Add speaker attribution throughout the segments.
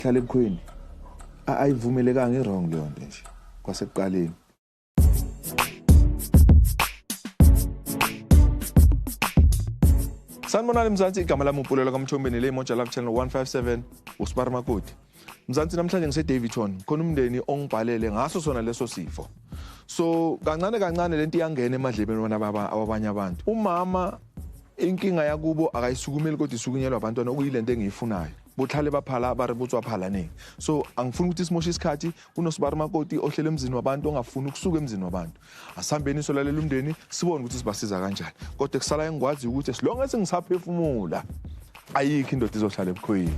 Speaker 1: hlala ebukhweni ayivumelekanga i-wrong leyo nto nje kwasekuqaleni sanibonani mzansi igama lami upulelo kamthombeni le moja love channel 157 usibari makoti mzansi namhlanje ngisedavidton khona umndeni ongibhalele ngaso sona leso sifo so kancane kancane lento iyangena emadlebeni wona baba awabanye abantu umama inkinga yakubo akayisukumeli kodwa isukunyelwa abantwana okuyilento engiyifunayo botlhale ba phala ba re botswa phalaneng so angifuni ukuthi simoshe isikhathi kunosibari makoti ohlele emzini wabantu ongafuni ukusuka emzini wabantu asihambeni solalela umndeni sibone ukuthi sibasiza kanjani kodwa kusala engikwaziyo ukuthi as long as ngisaphefumula ayikho indoda izohlala ebukhoyini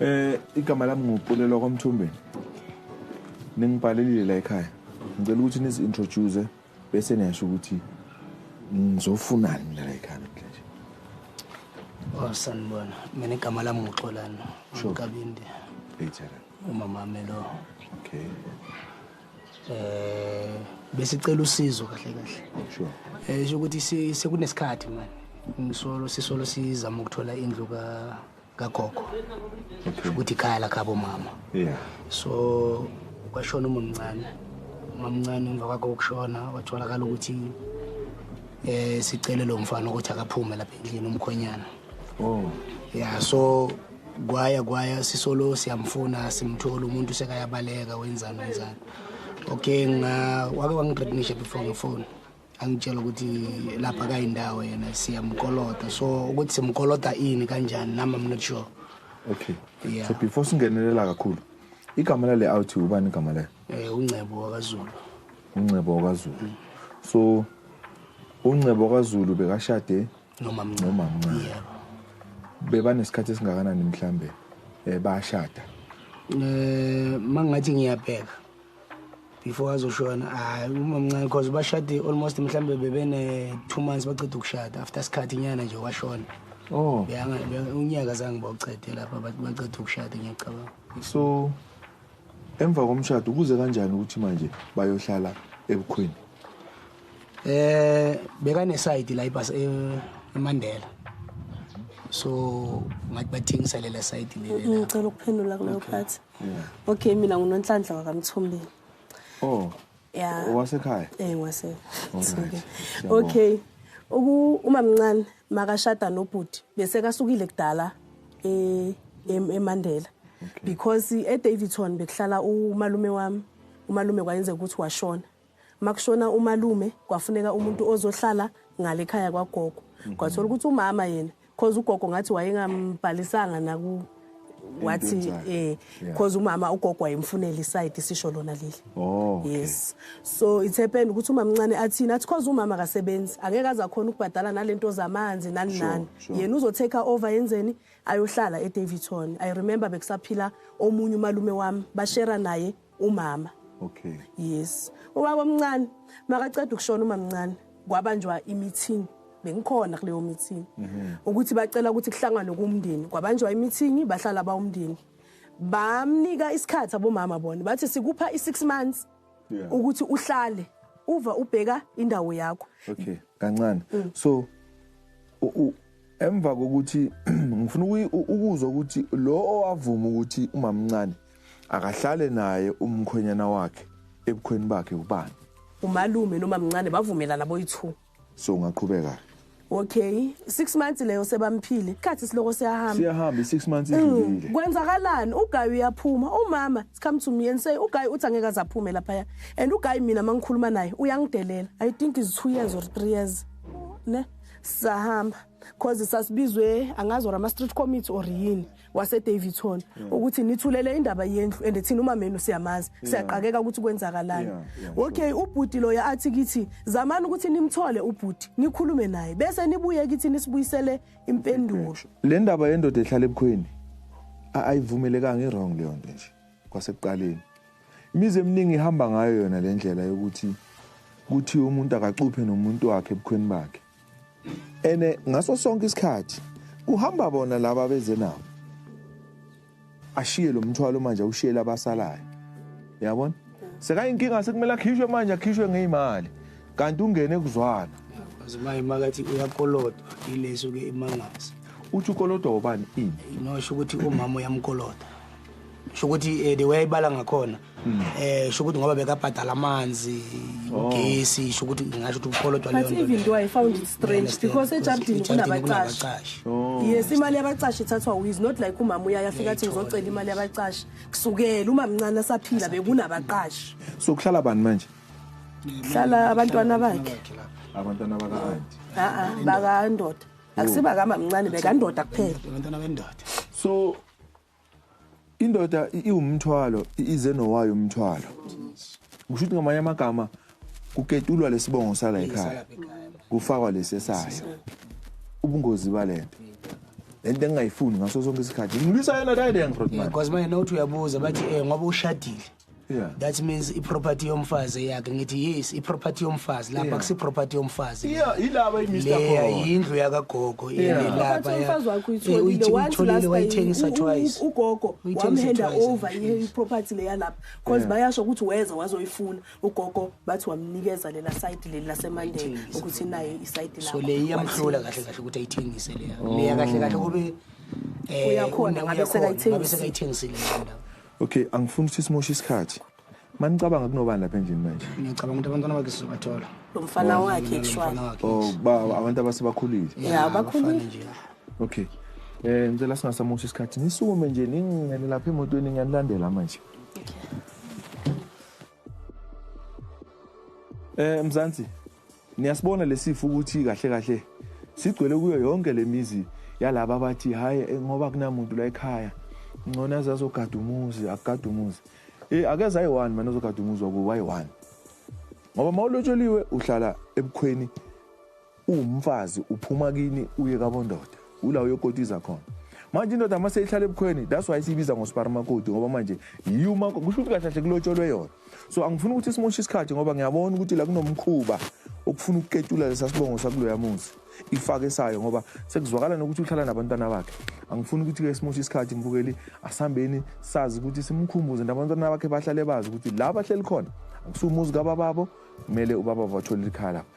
Speaker 1: Eh igama lami nguPulelo kwaMthumbeni. Ningibhalelile la ekhaya. Ngicela ukuthi nizi introduce bese niyasho ukuthi ngizofunani mina la ekhaya namhlanje. Oh
Speaker 2: sanibona. Mina igama lami nguXolani. Sure. Kabindi. Ejana.
Speaker 1: Umama melo. Okay.
Speaker 2: Eh besicela usizo kahle kahle. Sure.
Speaker 1: Eh ukuthi
Speaker 2: sekunesikhathi manje. Ngisolo sisolo sizama ukuthola indlu ka kagogo
Speaker 1: kusho ukuthi ikhaya lakhabo
Speaker 2: mama yeah so kwashona umamncane umamncane emva kwakho ukushona watholakala ukuthi eh sicele lo mfana ukuthi akaphume lapha endlini umkhonyana oh
Speaker 1: yeah so
Speaker 2: kwaya kwaya sisolo siyamfuna simthola umuntu sekayabaleka wenzani wenzani okay nga wake wangithreatenisha before ngefone angitshela ukuthi lapha kayindawo yena siyamkolota so ukuthi simkolota ini kanjani nami i'm not sure okay
Speaker 1: yeah. so before singenelela kakhulu igama lale out ubani igama layo eh uncebo wakazulu
Speaker 2: uncebo
Speaker 1: wakazulu mm. so uncebo wakazulu bekashade noma mncane noma
Speaker 2: mncane yeah.
Speaker 1: bebanesikhathi esingakanani mhlambe eh bashada eh
Speaker 2: mangathi ngiyabheka before azoshona hayi umamncane because bashade almost mhlawumbe bebene-two months baceda ukushada after isikhathi inyana nje washona oh
Speaker 1: unyaka
Speaker 2: zange bawucede lapha baceda ukushada ngiyacabanga so
Speaker 1: emva komshado kuze kanjani ukuthi manje bayohlala ebukhweni eh
Speaker 2: bekanesayidi la ibhasi eh, eMandela so ngathi bathengisele le sayidi leli ngicela ukuphendula kuleyo
Speaker 3: phathi okay mina ngunonhlanhla wakamthombeni oh
Speaker 1: ya
Speaker 3: owasekhaya eh
Speaker 1: ngwase
Speaker 3: okay uku uma mncane makashada nobhuti bese kasukile kudala e eMandela because eDavidson bekuhlala umalume wami umalume kwayenze ukuthi washona makushona umalume kwafuneka umuntu ozohlala ngale khaya kwagogo mhm. kwathola ukuthi umama yena cause ugogo ngathi wayengambhalisanga naku wathi eh cause umama ugogo wayemfunela iside sisho lona leli oh yes so it's happened ukuthi umama mncane athina athi cause umama akasebenzi angeke aza khona ukubhadala nalento zamanzi nani nani yena uzo take over yenzeni ayohlala eDavidson i remember bekusaphila omunye umalume wami bashera naye umama okay
Speaker 1: yes
Speaker 3: ubaba omncane makaceda ukushona umamncane kwabanjwa imeeting bengikhona kuleyo meeting mhm. ukuthi bacela ukuthi kuhlanganwe kumndeni kwabanjwa imeeting bahlala bawumndeni bamnika isikhathi abomama bona bathi sikupha i6 months ukuthi uhlale uva ubheka indawo yakho okay kancane
Speaker 1: mm. so Emva kokuthi ngifuna ukuzwa ukuthi lo owavuma ukuthi umamncane akahlale naye umkhwenyana wakhe ebukhweni bakhe ubani? Umalume
Speaker 3: nomamncane bavumelana boyi-2. So ungaqhubeka.
Speaker 1: Okay, 6
Speaker 3: months leyo sebamphile. Isikhathi siloko siyahamba. Siyahamba 6 months mm, idlulile.
Speaker 1: Kwenzakalani? Ugayi
Speaker 3: uyaphuma. Umama, come to me and say ugayi uthi angeke azaphume lapha. And ugayi mina mangikhuluma naye uyangidelela. I think is 2 years or 3 years. Ne? sahamba cause sasibizwe angazi or ama-street committee or yini wasedavidson yeah. ukuthi nithulele indaba yendlu and thina umamenu siyamazi yeah. siyaqakeka ukuthi kwenzakalani yeah. yeah. okay ubhuti loyo athi kithi zamani ukuthi nimthole ubhuti nikhulume naye bese nibuye kithi nisibuyisele impendulo le ndaba yendoda
Speaker 1: ehlala ebukhweni ayivumelekanga i-wrong leyo nto nje kwasekuqaleni Imizi eminingi ihamba ngayo yona le ndlela yokuthi kuthiwe umuntu akacuphe nomuntu wakhe ebukhweni bakhe ene ngaso sonke isikhathi kuhamba bona laba beze nabo ashiye lo mthwalo manje awushiyele abasalayo yabona sekayinkinga sekumele akhishwe manje akhishwe ngeyimali kanti ungene kuzwana azima imakathi
Speaker 2: uyakolodwa ileso ke imangazi uthi ukolodwa
Speaker 1: ubani ini inosho ukuthi umama
Speaker 2: uyamkolodwa sho ukuthi um eh, the way ayibala ngakhona um eh, sho ukuthi ngoba bekabhadala amanzi oh. ugesi sho ukuthi ngingasho ukuthi ukukholodwa leyo but even though i found it
Speaker 3: strange because ejardini kunabacashi oh. yes imali yabacashi ithathwa wiz not like umama uyaye afika athi ngizocela imali yabacashi kusukela uma mncane asaphila bekunabaqashi so kuhlala bani
Speaker 1: manje hlala
Speaker 3: abantwana bakhe abantwana
Speaker 1: baka-anti a-a bakandoda
Speaker 3: akusiba kamamncane bekandoda kuphela abantwana bendoda
Speaker 2: so
Speaker 1: Indoda iwumthwalo ize nowayo umthwalo. Kusho ukuthi ngamanye amagama kuketulwa lesibongo sala ekhaya. Kufakwa lesesayo. Ubungozi balento. lento engingayifuni ngaso sonke isikhathi ngilwisa yona dayide ngirothman because manje nokuthi uyabuza
Speaker 2: bathi um ngoba ushadile Yeah. That
Speaker 1: means iproperty
Speaker 2: yomfazi yakhe ngithi yes iproperty yomfazi lapha kusi property yomfazi. Yeah, ilaba iMr.
Speaker 1: Leya indlu yakagogo
Speaker 2: ile lapha. Umfazi wakho uyitholile
Speaker 3: once last wayithengisa twice. Ugogo
Speaker 2: wamhenda
Speaker 3: over iproperty leya lapha because bayasho ukuthi weza wazoyifuna ugogo bathi wamnikeza lela site leli laseMandela ukuthi naye isite lapha. So leya iyamhlula kahle
Speaker 2: kahle ukuthi ayithengise leya. Leya kahle kahle kube eh
Speaker 3: uyakhona ngabe sekayithengisile.
Speaker 2: Okay, angifuni
Speaker 1: ukuthi simoshe isikhathi. Manicabanga kunobani lapha endlini manje? Ngiyacabanga ukuthi abantwana bakhe
Speaker 2: sizobathola. Lo mfana oh, wakhe
Speaker 3: kushwana. Oh, ba abantu
Speaker 1: abasebakhulile. Yeah, abakhulile. Okay. Eh ngicela singasamoshi isikhathi. Nisukume nje ningene lapha emotweni ngiyanilandela manje. Okay. Eh Mzansi, Niyasibona lesifo ukuthi kahle kahle sigcwele kuyo yonke lemizi yalabo abathi hayi eh, ngoba kunamuntu la ekhaya ngcono aze azogada umuzi akugada umuzi eh akeze ayi-one mane ozogada umuzi wakubo ayi-one ngoba uma ulotsholiwe uhlala ebukhweni uwumfazi uphuma kini uye kabondoda ula uyokotiza khona manje indoda uma seyihlala ebukhweni that's why siyibiza ngosparmakoti ngoba manje yiyo uma kusho ukuthi kahle kahle kulotsholwe yona so angifuni ukuthi simoshe isikhathi ngoba ngiyabona ukuthi la kunomkhuba okufuna ukuketula lesa sibongo sakuloya muzi ifake sayo ngoba sekuzwakala nokuthi uhlala nabantwana bakhe angifuni ukuthi-ke simoshe isikhathi mbukeli asihambeni sazi ukuthi simkhumbuze nabantwana bakhe bahlale bazi ukuthi la bahleli khona akusiwumuzi kabababo kumele ubaba bathole ikhaya lapho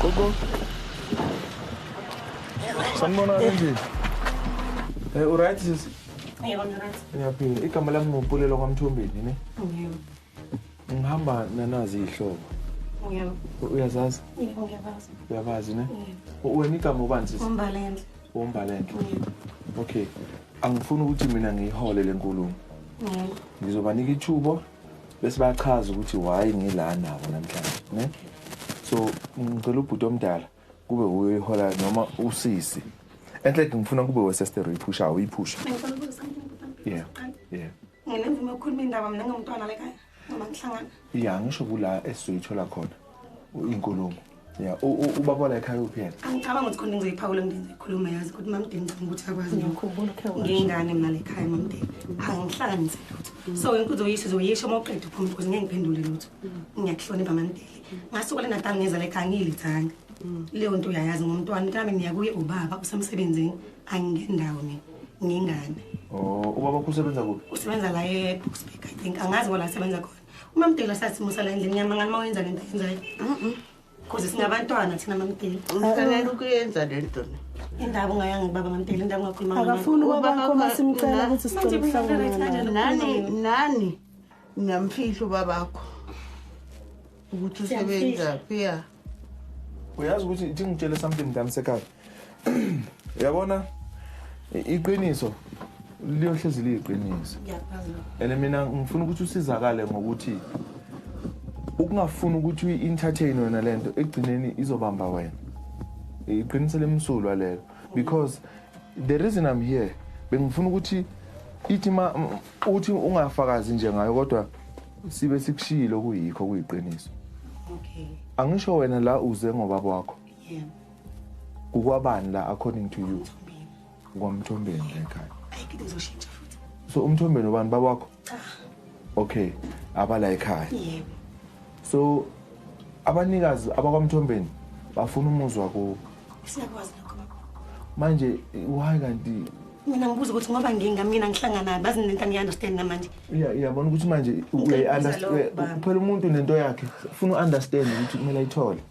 Speaker 1: Gogo. Sanibona kanjani? Eh uright sisi? Yebo ngiright.
Speaker 4: Ngiyaphila. Igama lami
Speaker 1: ngopulelo kwaMthombeni ne? Yebo. Ngihamba nanazi ihlobo. Yebo.
Speaker 4: Uyazazi? Yebo
Speaker 1: ngiyabazi.
Speaker 4: Uyabazi ne? Yebo.
Speaker 1: Wena igama ubani sisi? Umbalendle.
Speaker 4: Umbalendle.
Speaker 1: Yebo. Okay. Angifuni ukuthi mina ngiyihole lenkulumo. Yebo.
Speaker 4: Ngizobanika ithubo
Speaker 1: bese bachaza ukuthi why ngila nabo namhlanje ne so ngicela ubhuti omdala kube uye ihola noma usisi enhle ngifuna kube weseste uyiphusha uyiphusha
Speaker 4: yeah yeah
Speaker 1: nginemvume ukukhuluma
Speaker 4: indaba mina ngomntwana lekhaya noma ngihlangana
Speaker 1: ya ngisho kula esizoyithola khona inkulumo ya ubaba la ekhaya uphi yena angicabanga ukuthi khona into ngizoyiphawula
Speaker 4: ngidinga ngikhuluma yazi ukuthi mamdeni ngicabanga ukuthi akwazi ngiyakhumbula ukhe washo ngingane
Speaker 3: mina la
Speaker 4: ekhaya mamdeni angihlanganise lutho so yonke uzoyisho uzoyisho uma uqeda uphuma because ngeke ngiphendule lutho ngiyakuhlonipha mamdeni ngasuka le natal ngeza la ekhaya ngiyilithanga leyo nto uyayazi ngomntwana kami ngiya kuye ubaba usemsebenzini angingendawo mina ngingane oh
Speaker 1: ubaba usebenza kuphi usebenza la e-boxburg
Speaker 4: i think angazi kwala asebenza khona umamdela sasimo sala endlini yami ngani mawenza lento yenzayo cause singabantwana thina mamdela ufanele ukuyenza
Speaker 5: le nto ne indaba ungayanga
Speaker 4: kubaba mamdela indaba ungakhuluma ngayo. akafuni Ubaba ubabakho wakho-
Speaker 3: masimcela na- ukuthi sicela Manje ukuhlangana mina naye. ngithanda nani
Speaker 5: nani niyamfihla ubabakho ukuthi Siyamfihla. usebenzaphi ya
Speaker 1: uyazi ukuthi thi ngitshele something mntana sekhaya uyabona iqiniso liyohlezi liyiqiniso and
Speaker 4: mina ngifuna ukuthi
Speaker 1: usizakale ngokuthi ukungafuni ukuthi uyi-entertain wena le nto ekugcineni izobamba wena iqiniso lemsulwa lelo because the reason i'm here bengifuna ukuthi ithi Uthi ungafakazi nje ngayo kodwa sibe sikushiyile okuyikho kuyiqiniso. Okay.
Speaker 4: Angisho wena
Speaker 1: la uze ngoba kwakho. Yeah. Kukwabani la according to you? Kwamthombeni la ekhaya. Ayike ngizoshintsha
Speaker 4: futhi. So umthombeni ubani
Speaker 1: babakho? Cha. Okay. Abala ekhaya. Yebo.
Speaker 4: so
Speaker 1: abanikazi abakwamthombeni bafuna umuzi wakubo
Speaker 4: siyakwazi
Speaker 1: lokho baba manje why kanti mina ngibuza ukuthi
Speaker 4: ngoba nginga mina ngihlangana bazi nento angiunderstand namanje iya iyabona ukuthi manje
Speaker 1: uyayi-understand Ngibuza lokho, baba. kuphela umuntu nento yakhe funa u-understand ukuthi kumele ayithole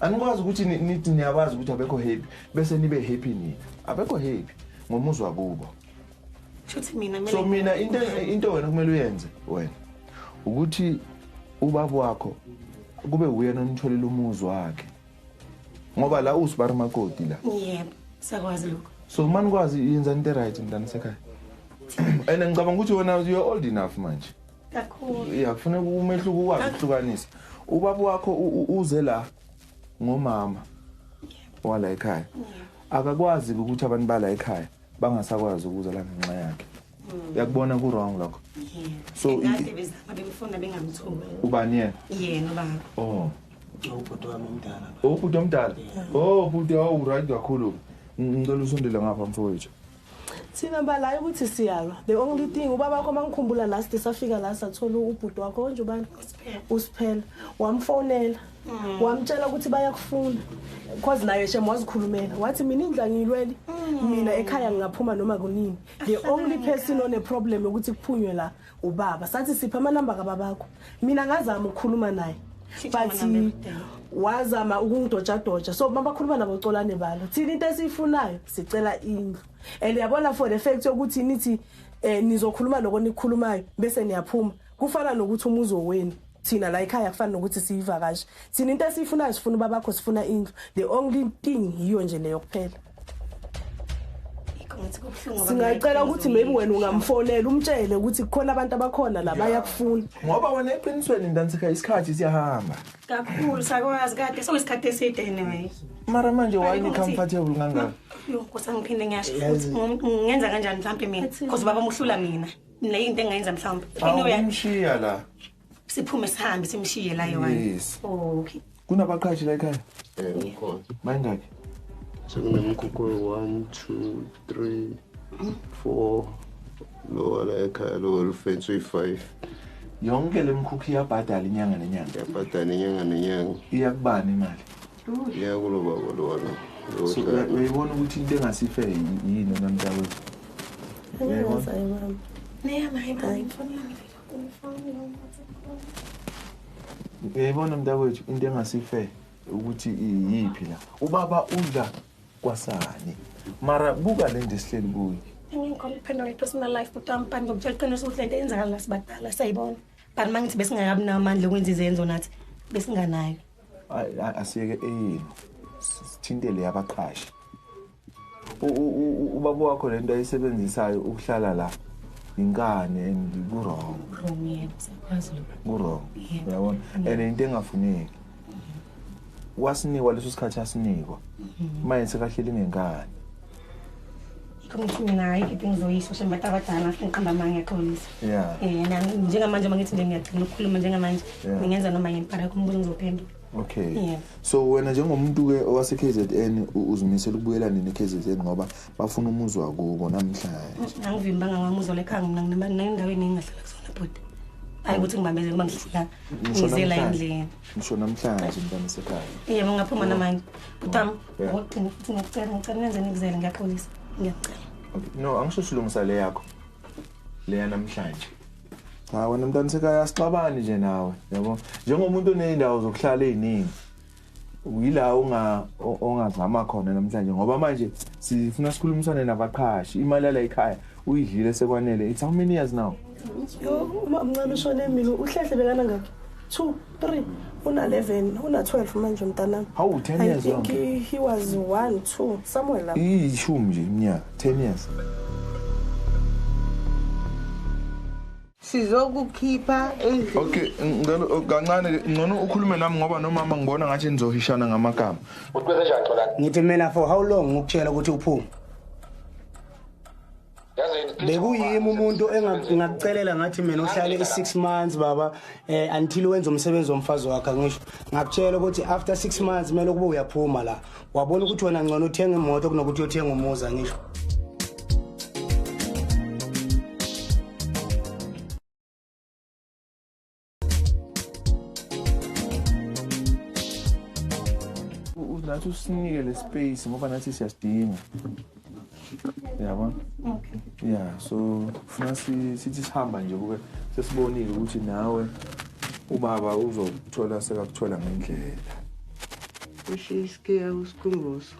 Speaker 1: anikwazi ukuthi nithi niyabazi ukuthi abekho happy bese nibe happy nina abekho happy ngomuzwa kubo shuthi
Speaker 4: mina mina so mina into
Speaker 1: into wena kumele uyenze wena ukuthi ubaba wakho kube uyena onitholela umuzi wakhe ngoba la usibari makoti la yebo sakwazi
Speaker 4: lokho so uma nikwazi
Speaker 1: yenza into right mntana sekhaya and ngicabanga ukuthi wena you're old enough manje kakhulu ya
Speaker 4: kufuneka umehluko
Speaker 1: ukwazi ukuhlukanisa ubaba wakho uze la ngomama wala ekhaya akakwazi ukuthi abantu bala ekhaya bangasakwazi ukuza la ngenxa yakhe hmm. uyakubona ku-wrong lokho so
Speaker 4: ubani yena yena ubaba
Speaker 2: oh ubhuti wami omdala
Speaker 1: ubhuti omdala oh bhuti awuright kakhulu ngicela usondele ngapha mfowethu Thina
Speaker 3: balayo ukuthi siyalwa. The only thing ubaba wakho mangikhumbula last safika la sathola ubhuti wakho onje ubani? Usiphela. Wamfonela. Mm. Wamtshela ukuthi bayakufuna. Cause naye shem wazikhulumela. Wathi mina indla ngiyilwele. Mm. Mina ekhaya ngingaphuma noma kunini. The only person one problem ukuthi kuphunywe la. ubaba sathi sipha amanamba kababakho mina ngazama ukukhuluma naye but wazama ukungidojadoja so uma bakhuluma nabo colane balo thina into esiyifunayo sicela indlu and yabona for the fact yokuthi nithi eh nizokhuluma lokho nikhulumayo bese niyaphuma kufana nokuthi umuzi wenu thina la ekhaya kufana nokuthi siyivakashi thina into esiyifunayo sifuna ubabakho sifuna indlu the only thing yiyo nje leyo kuphela singacela ukuthi maybe wena ungamfonela umtshele ukuthi kukhona abantu abakhona la bayakufuna ngoba wena eqinisweni
Speaker 1: ndantsika isikhathi siyahamba kakhulu
Speaker 4: sakwazi kade soyisikhathi eside anyway mara manje why
Speaker 1: ni comfortable kangaka yokusa ngiphinde
Speaker 4: ngiyasho ngenza kanjani mhlambe mina because baba muhlula mina Nile into engayenza mhlawumbe. Awumshiya la.
Speaker 1: Siphume
Speaker 4: sihambe simshiye la yona. Yes. Oh, okay. Kunabaqhashi la
Speaker 1: ekhaya? Eh, ukhona.
Speaker 6: Bayingaki?
Speaker 1: Sekunemkhukhu
Speaker 6: 1 2 3 4 lowa la ekhaya lowa lufensi uyi-5 yonke
Speaker 1: le mkhukhu iyabhadala inyanga nenyanga iyabhadala inyanga
Speaker 6: nenyanga iyakubani imali ngeke kulo baba lona so
Speaker 1: uyayibona ukuthi into engasife yini wena mntakwethu uyayibona mntakwethu into engasife ukuthi iyiphi la ubaba udla kwasani mara buka le nto esihleli kuyo ngingikhola ukuphendula
Speaker 4: i-personal life bhuti wami but ngokutshela iqiniso ukuthi le nto eyenzakala la sibadala siyayibona but uma ngithi besingakabi nawo amandla okwenza izenzo nathi besinganayo
Speaker 1: asiyeke eyenu sithintele yabaqhashi ubaba wakho le nto ayisebenzisayo ukuhlala la yinkani and kurong kurong uyabona and into engafuneki wasinikwa leso sikhathi asinikwa manje sekahleli ngenkani
Speaker 4: ngithi mina hayi kephi ngizoyisho shem bantu abadala ngiqamba amanga ngiyaxolisa um
Speaker 1: eh, njengamanje uma ngithi nje
Speaker 4: ngiyagcina ukukhuluma njengamanje ngingenza noma yini para kumbuzo ngizophendula okay yeah.
Speaker 1: so wena
Speaker 4: njengomuntu-ke
Speaker 1: owase-k z n uzimisela ukubuyela nini e-k z n ngoba bafuna umuzi wakubo namhlanje mm, angivimbanga ngamuzi
Speaker 4: olekhanga mina nginendaweni engingahlala kusona bhuti hayi ukuthi ngibambezele uma ngihlala ngizela endlini ngisho namhlanje
Speaker 1: mntana sekhaya iye ungaphuma namanje
Speaker 4: bhutam Ngicela futhi ngiyacela ngicela nenze nikuzele ngiyaxolisa. Ngiyacela. No, angisho
Speaker 1: silungisa le yakho. Leya namhlanje. Cha wena mntana sekhaya asixabani nje nawe, yabo. Njengomuntu oneyindawo zokuhlala eziningi. Uyila unga o- ongazama khona namhlanje ngoba manje sifuna sikhulumisane nabaqhashi. Imali yala ekhaya uyidlile sekwanele. It's how many years now? Yo, uma
Speaker 3: mncane ushone mina, uhlehle bekana ngakhe. Two. 3 una 11 una 12 manje mntanami hawu 10 years i think
Speaker 1: he was
Speaker 3: 1 2 somewhere lapho ishumi nje iminyaka
Speaker 1: 10 years
Speaker 5: sizokukhipha endlini okay ngicela
Speaker 1: oh, kancane ngcono ukhulume nami ngoba nomama ngibona ngathi nizohishana ngamagama uthi kwenzenjani xolani
Speaker 7: ngithi mina for how
Speaker 2: long ngikutshela ukuthi uphume bekuyimi umuntu engakucelela ngathi mina uhlale i-six months baba um until wenza umsebenzi womfazi wakhe ngisho ngakutshela ukuthi after six months kumele ukuba uyaphuma la wabona ukuthi wena ngcono uthenga imoto kunokuthi uyothenga umuza ngisho
Speaker 1: nathi usinike le space ngoba nathi siyasidinga yabona okay
Speaker 4: yeah so
Speaker 1: funa sithi sihamba nje kube sesibonile ukuthi nawe ubaba uzokuthola sekakuthola ngendlela ushiske
Speaker 5: usikhumbuzo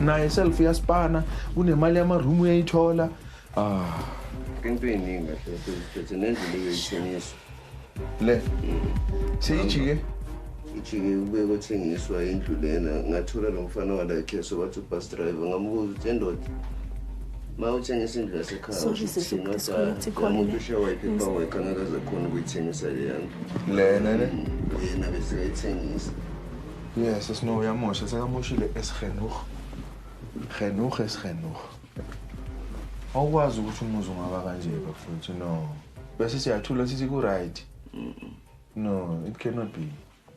Speaker 1: naye self uyaspana kunemali yamaroom uyayithola ah
Speaker 6: into eyiningi kahle phethe nendlela yoyithengiswa le
Speaker 1: seyijike
Speaker 6: ijike kube kothengiswa indlu lena ngathola lo mfana walakheso wathi ubus driver ngamubuza ukuthi endoda ma uthengisa indlu yasekhayaumuntu ushawa iphepha wekha ngakaze khona ukuyithengisa leya ndlu lena ne
Speaker 1: mm, yena
Speaker 6: besekayithengisa Yes,
Speaker 1: es no yamosha, sekamoshile esgenuh. Genuh esgenuh. Awukwazi ukuthi umuzi ungaba kanje bafowethu no. Bese siyathula sithi ku right. No, it cannot be.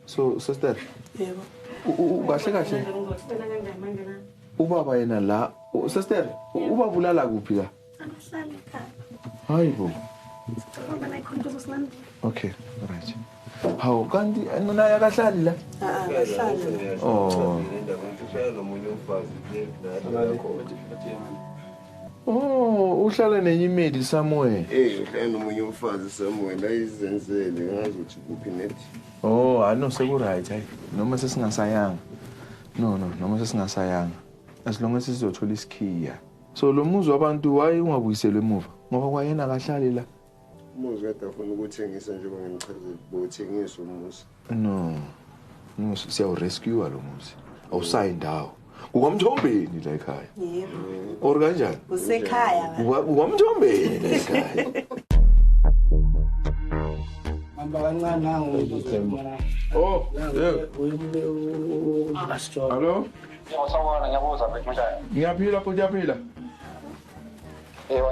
Speaker 1: So sister.
Speaker 3: Yebo. Kahle
Speaker 1: kahle. Ubaba yena la, sister, ubabulala kuphi la?
Speaker 4: Angahlali ekhaya. Hayi bo.
Speaker 1: Ngoba
Speaker 4: nayi khona
Speaker 1: ukuthi silandile. Okay, right. Hawu kanti naye akahlali la? Ah, akahlali. Oh. Oh, uhlala nenye imeli somewhere. Eh, uhlala nomunye
Speaker 6: umfazi somewhere la izenzele ngazi ukuthi kuphi net. Oh, hayi no
Speaker 1: seku right hayi. Noma sesingasayanga. No no, noma sesingasayanga. As long as sizothola isikhiya. So lo muzi wabantu waye ungabuyiselwe emuva ngoba kwayena akahlali la. Umuzi kade
Speaker 6: afuna ukuthengisa njengoba ngimchazile bothengisa umuzi. No.
Speaker 1: No siyawu rescue lo muzi. Awusayi ndawo. Kukwamthombeni la ekhaya. Yebo.
Speaker 3: Or kanjani?
Speaker 1: Usekhaya.
Speaker 3: Kukwamthombeni
Speaker 1: la ekhaya.
Speaker 2: Hamba kancane nangu. Oh.
Speaker 1: Yeah. Hello.
Speaker 7: Yebo sawubona ngiyabuza mfethu kunjani? Ngiyaphila
Speaker 1: futhi
Speaker 7: uyaphila. Yebo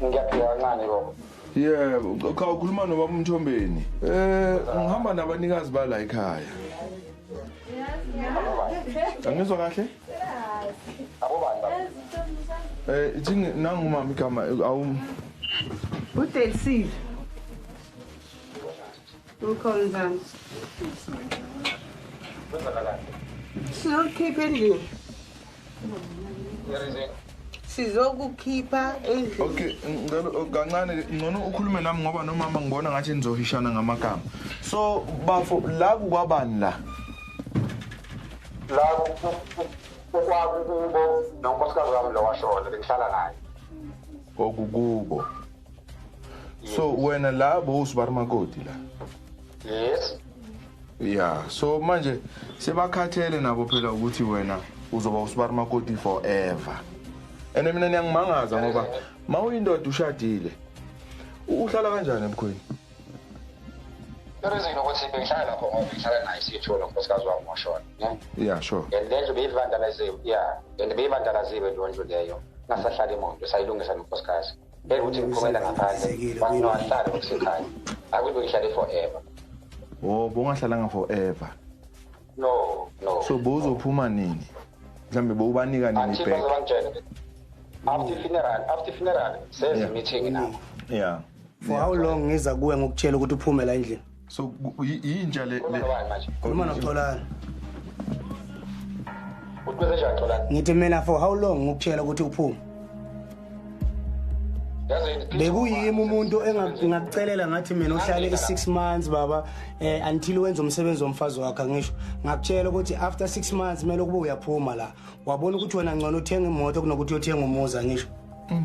Speaker 7: ngiyaphila kancane baba. Yebo,
Speaker 1: cha ukhuluma nobaba uMthombeni. Eh ngihamba nabanikazi bala ekhaya. Angizwa kahle?
Speaker 7: Abobani baba? Eh ithi nangu
Speaker 1: mama igama awu.
Speaker 5: Udelsil. Mkhonzana. Sizokhipha endlini. sizokukhipha endlini okay ngicela
Speaker 1: oh, kancane ngcono ukhulume nami ngoba nomama ngibona ngathi nizohishana ngamagama so bafo la kukwabani la
Speaker 7: la kwakukubo nonkosikazi wami lo washona bengihlala
Speaker 1: naye
Speaker 7: kwakukubo so
Speaker 1: wena la bowusibari makoti la yes
Speaker 7: ya
Speaker 1: so manje sebakhathele nabo phela ukuthi wena uzoba usibari makoti forever and mina niyangimangaza ngoba ma uyindoda ushadile uhlala kanjani ebukhweni
Speaker 7: Irizini ukuthi bengihlala lapho ngoba bengihlala naye siyithola unkosikazi wami washona. Yeah, sure. And le ndlu
Speaker 1: beyivandalaziwe.
Speaker 7: Yeah. And beyivandalaziwe leyo ndlu leyo. Ngasahlala imoto sayilungisa nonkosikazi. bekuthi ngiphumela ngaphandle wathi nowahlale ngokusekhaya akuthi uyihlale forever oh
Speaker 1: bongahlalanga forever no
Speaker 7: no so
Speaker 1: bozophuma nini mhlambe bowubanika nini back after funeral
Speaker 7: after funeral says meeting
Speaker 1: now yeah for how long
Speaker 2: ngiza kuwe ngokutshela ukuthi uphumela endlini so
Speaker 1: yinja le khuluma
Speaker 2: noxolani
Speaker 7: ngithi mina for how long
Speaker 2: ngikutshela ukuthi uphume bekuyimi umuntu engakucelela ngathi mina uhlale i-six months baba um until wenza umsebenzi womfazi wakhe ngisho ngakutshela ukuthi after six months kumele ukuba uyaphuma la wabona ukuthi wena ngcono uthenga imoto kunokuthi uyothenga umuza ngisho mm.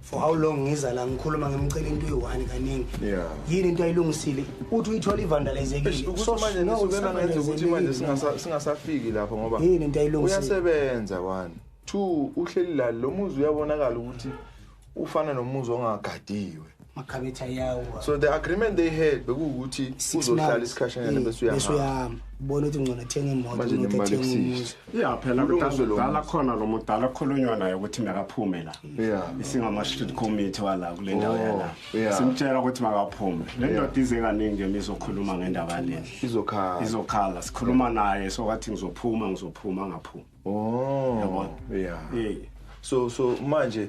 Speaker 2: for how long ngiza la ngikhuluma ngimcela into eyi-one kaningi yini into
Speaker 1: ayilungisile
Speaker 2: uthi uyithola ivandalizekilemangezukuthi
Speaker 1: manje singasafiki lapho ngoba yini into ayilungisileyasebenza
Speaker 2: one
Speaker 1: two uhleli la lo muzi uyabonakala ukuthi ufana nomuzi ongagadiwe makhabetha
Speaker 2: yawo so the agreement they
Speaker 1: had bekuwukuthi uzohlala isikhashanyana bese uyahamba bona ukuthi ngcono
Speaker 2: athenga imoto manje nemali ya phela
Speaker 8: kudala khona lo mudala okhulunywa naye ukuthi makaphume la isingama-street committee wala kule ndawo oh, yala simtshela ukuthi makaphume le ndoda ize kaningi yona izokhuluma ngendaba yalena izokhala sikhuluma naye sokathi ngizophuma ngizophuma ngaphuma oh, yabona
Speaker 1: so so manje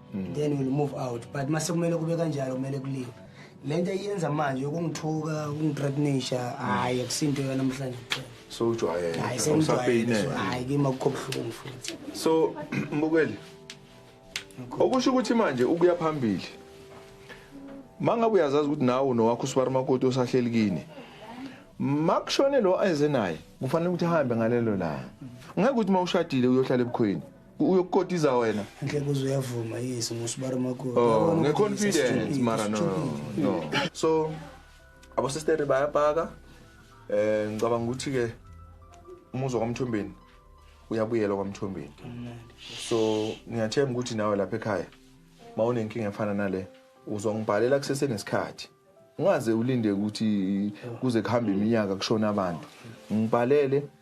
Speaker 2: mm. then we'll move out but mase kumele kube kanjalo kumele kuliwe lento iyenza manje ukungithuka ukungithreatenisha hayi akusinto yona namhlanje kuphela so ujwayele hayi
Speaker 1: sengijwayele
Speaker 2: hayi kimi akukho buhlungu futhi so
Speaker 1: mbukeli okusho ukuthi manje ukuya phambili mangabe uyazazi ukuthi nawe unowakho usibari makoti osahleli kini makushone lo eze naye kufanele ukuthi ahambe ngalelo la ngeke ukuthi mawushadile uyohlala ebukhweni uyokukotiza wena nhle kuze uyavuma
Speaker 2: yes ngosibara makho oh nge confidence
Speaker 1: mara no no so abo sister bayabhaka eh ngicabanga ukuthi ke umuzo kwamthombeni uyabuyela kwamthombeni so ngiyathemba ukuthi nawe lapha ekhaya mawunenkinga efana nale uzongibhalela kusese nesikhathi ungaze ulinde ukuthi kuze kuhambe iminyaka kushona abantu ngibhalele